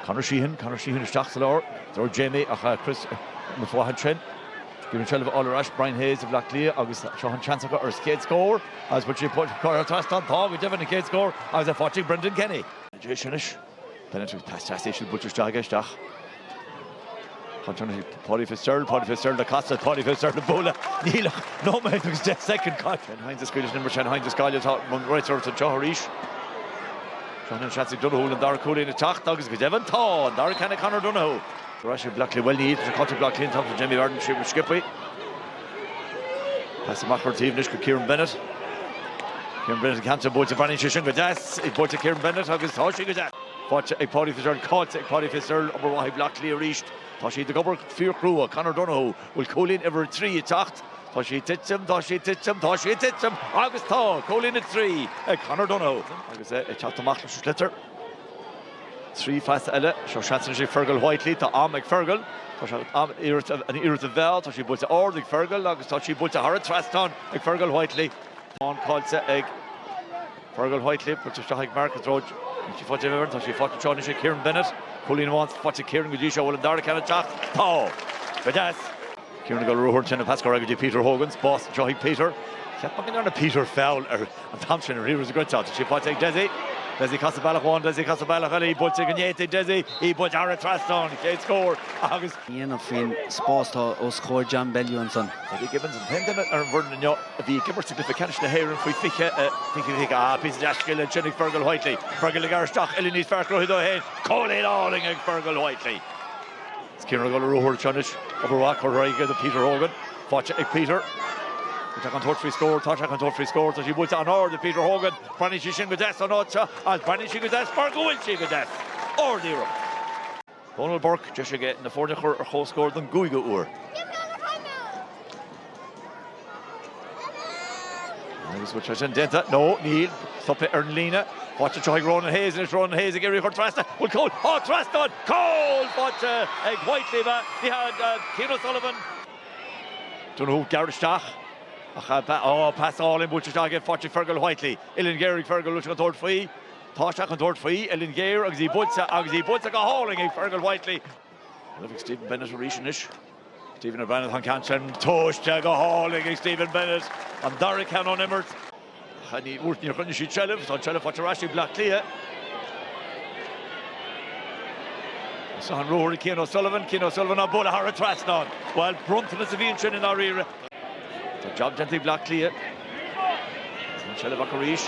Conor Sheehan, Conor Sheehan isteach sa lár, dúirt Jamie ach Chris mo flaithid sin. Bhí an seilbh fháil ar ais, Brian Hayes ag Bleá Cliath agus seo an seans acu ar a chéad scór agus buaileann sé Paul Conroy thar an trasnán. Tá go deimhin an chéad scór agus é faighte ag Brendan Kenny. Tar éis anois, peinealti teasa íseal buailte isteach aige, isteach. Paudie Fitzgerald, Paudie Fitzgerald ag casadh, Paudie Fitzgerald á bualadh. Níl ach nóiméad agus deich soicind caite. Shane Hynes ag scaoileadh den uair sin, Hynes ag scaoileadh, tá an réiteoir ag anseo arís. Seo an seans ag Donoghue an dara cúilín ag teacht agus go deimhin tá an dara ceann ag Conor Donoghue. Tá sé Black le bhfuil níos caite Black Lynn tá Jamie Barron siomh scipaí. Pas amach ar an taobh anois go Kieran Bennett. Kieran Bennett cancer bóte bhain sé sin go deas ag bóte Kieran Bennett agus tá sé go deas. Faighte ag Paudie Fitzgerald Caillte ag Paudie Fitz ach an obair mhaith ag Bleá Cliath arís. Tá siad ag obair fíor chrua. Conor Donohue bhfuil cúilín uimhir a trí ag teacht? Tá sí ag titim, tá sí ag titim, tá sí ag titim agus tá! Cúilín a trí ag Conor Donohue. Agus é ag teacht amach leis an sliotar. Trí phas eile. Seo seans anois ag Fergal Whitely. Tá am ag Fergal. Tá an t-am an iarracht a mheá. Tá sí buailte ard ag Fergal agus tá sí buailte thar an trasnán ag Fergal Whitely. Tá an ceann faighte ag. Fergal Whitely, buailte isteach ag Mark i dtreo Richie Paddy Burke. Tá sí faighte anseo anois ag Kieran Bennett. Cúilín amháin faighte ag Kieran go dtí seo. Bhfuil an dara ceann ag teacht? Tá! Go deas! Kieran ag dul ar ruathar ansin an pas curtha aige go dtí Peter Hogan. Spás anseo ag Peter. Cheap mé go ndearna Peter feall an t-am sin ar Ríomhairí Ghoitse. Tá sí faighte ag Dessie. Dessie ag casadh bealach amháin, Dessie ag casadh bealach eile. Í buailte go deas ag Dessie. Í buailte thar an trasnán. Chéad scór agus. dhéanamh faoin spás atá os comhair John Bellew ansan. Paddy Gibbons, an t-aon duine ar an bhfoireann inniu a bhí ag imirt i gCluiche Ceannais na hÉireann faoi 20, Ah, píosa deas scile ansin ag Fergal Whitely. Fergal ag amharc isteach, uillinn níos fearr cruthaithe dó féin. Cúilín álainn ag Fergal Whitely. Is Cian ag dul ar ruathar anseo anois. Obair mhaith, curtha aige do Peter Hogan. Faighte ag Peter. Tá sé chun tabhairt faoi scór, tá sé chun tabhairt faoi scór, tá sí buailte an-ard ag Peter Hogan. Fanann sí sin go deas ón áit seo agus fanann sí go deas mar go bhfuil sí go deas. Ard iarracht. Dónal Burke, deis aige na foirne a chur ar comhscór don gcúigiú uair. Agus bhfuil sé sin déanta? No, níl. Stopadh é ar an líne. Faighte anseo ag Ronan Hayes anois. Ronan Hayes ag iarraidh í a chur trasna. Bhfuil cúl? Á, trasnán? Cúl! Faighte ag Whitely ab ea? Ní hea, Cian O'Sullivan. Dúnadh thú gearr isteach ach, á, pas álainn buailte isteach aige go dtí Fergal Whitely. Uillinn ghéar ag Fergal anois an dtabharfaidh faoi. Tá sé chun tabhairt faoi, uillinn ghéar agus í buailte agus í buailte go hálainn ag Fergal Whitely. Rud ag Stephen Bennett arís anois. Stephen Bennett an ceann sin tomhaiste go hálainn ag Stephen Bennett. An dara ceann ón imirt. Chaith Ní Mhúirt níor choinnigh sé seilbh, tá an seilbh faighte ar ais ag Bleá Cliath. Is an ruathar ag Cian O'Sullivan, Cian O'Sullivan á bualadh thar an trasnán. Bhuel, bronntanas a bhí ansin i ndáiríre. Tá jab déanta ag Bleá Cliath. Sin seilbh acu arís.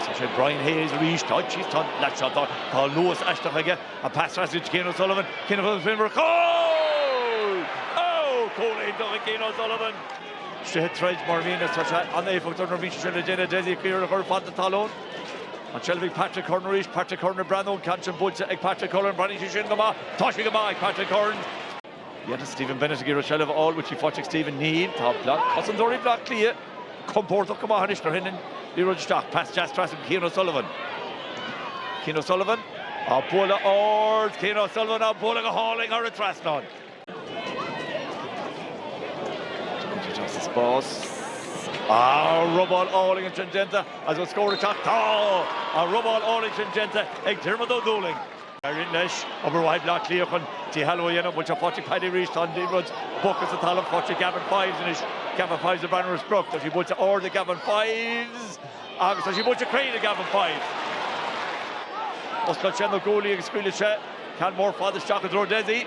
Is é sin Brian Hayes arís. Tá seilbh, tá an leath seo, tá an luas aisteach aige. An pas deas do Cian O'Sullivan. Cian O'Sullivan faoin bhfraigh. Gól! Ó! Cúl iontach ag Cian O'Sullivan. Ag rith tríd mar a bhíonn is tá sé an-éifeachtach nuair a bhíonn sé sin le déanamh. Stephen O'Keeffe a chur fad na talún. An seilbh ag Patrick Curran arís. Patrick Curran ag breathnú. An ceann sin buailte ag Patrick Curran. An mbreathnaíonn sé sin go maith? Tá sé go maith ag Patrick Curran. Tá Stephen Bennett ag iarraidh seilbh a fháil uaithi, an bhfuil sí ag Stephen, Níl, tá ag cosantóirí Bhaile Átha Cliath compórdach go maith anois nuair a thagann an liathróid isteach, pas deas trasna go Cian O'Sullivan. Cian O'Sullivan á bualadh ard, Cian O'Sullivan á bualadh go hálainn thar an trasnán. Tugann sé isteach sa spás, ah robáil álainn ansin déanta agus an scór istigh, tá! Robáil álainn ansin déanta ag Diarmuid Ó Dúlaing. Éiríonn leis obair mhaith Bhleá Cliath chun díshealbhú a dhéanamh. An bhfuil sí faighte? Paddy arís, tá an liathróid ar an talamh faighte ag Gavin Fives anois. Gavin Fives an bhfuil an sprioc. Tá sí buailte ard ag Gavin Fives agus tá sí buailte cruinn ag Gavin Fives. Osclaíonn sé na guaillí agus scaoileann sé ceann mór fada isteach i dtreo Dessie.